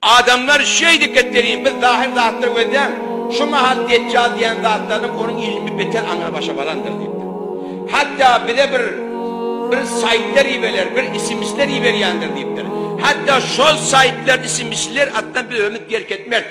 Adamlar şeýdip geplenýär, biz zahyr zatlar gözlän, şu mahal Detjal diýýän zatlarynyň onuň ilmi beter aňry başa barandyr diýipdir. Hatda bize bir bir saýtlar ibeler, bir sms-ler iberýändir diýipdir. Hatda şol saýtlar, sms-ler atdan biz ömüt berk etmeris.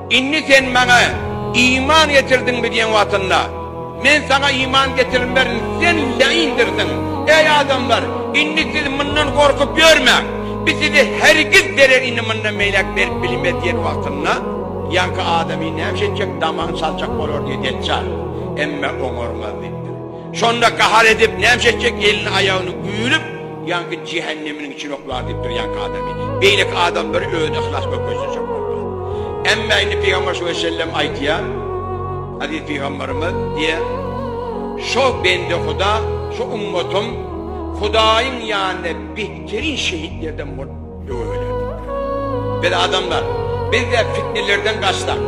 Indi sen Maňa iman getirdiňmi diýen wagtynda, Men saňa iman getirilmerin, sen leýindirsiň. Eý, adamlar, indi siz mundan gorkup ýörmäň! Biz size hergiz zerer indi mundan beýläk berip bilmeris diýen wagtynda, ýaňky adamy näme etjek, damagyny çaljak bolardy, Deçjal, emma oňarmaz diýipdir. Şonda gahar edip nämşe etjek elini aýagyny güýlüp ýaňky jähenneminiň içini oklar diýip durýanky adamy beýleki adam bir özüni yhlas gökejdirjek bolupar. Emma indi Pygamber şo sellem aýtýar, Aziz Pygamberimiz diýýär, Şo bende Huda, şo ummatym Hudaýyň ýanynda behterin şehitlerden bolup Biz adamlar, biz-de fitnelerden gaçsak,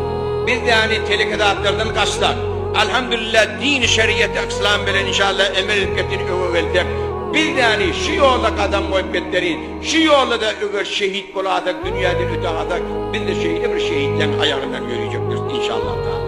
biz ýaly teleke zatlardan gaçsak, Alhamdulillah dini şeriaty Yslam bilen inşallah emel edip getir öňe gelsek, biz ýaly şu ýolda gadam goýup getseri, şu ýolda-da eger şehit bolasak, dünýäden öte gasak, biz-de şeýle bir şehitleň aýagyndan ýöreýjekdiris inşallah taala.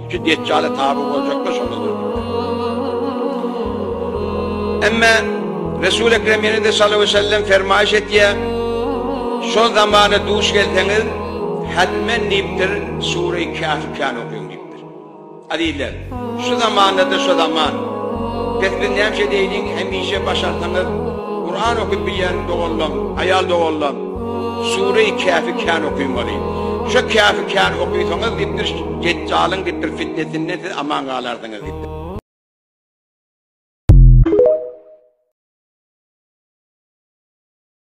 Şu Deccala taby boljaklar şonda dördüp. Emme Resul Ekrem ýene-de sallallahu aleyhi ve sellem fermaýyş etýär. Şol zamana duş gelseňiz, hatmen diýipdir, Sure-i Kâfi kân okyň diýipdir. Azizler, şu zamanda-da şu zaman. Pes biz näçe deýliň, hemişe başarsaňyz, Kur'an okyp bilýän doganlam, aýal doganlam, Sure-i Kâfi kân okyň weli. Şu Kâfi kân okysaňyz diýipdir, Detjalyň gitdir fitnesinden siz aman galarsyňyz gitdir.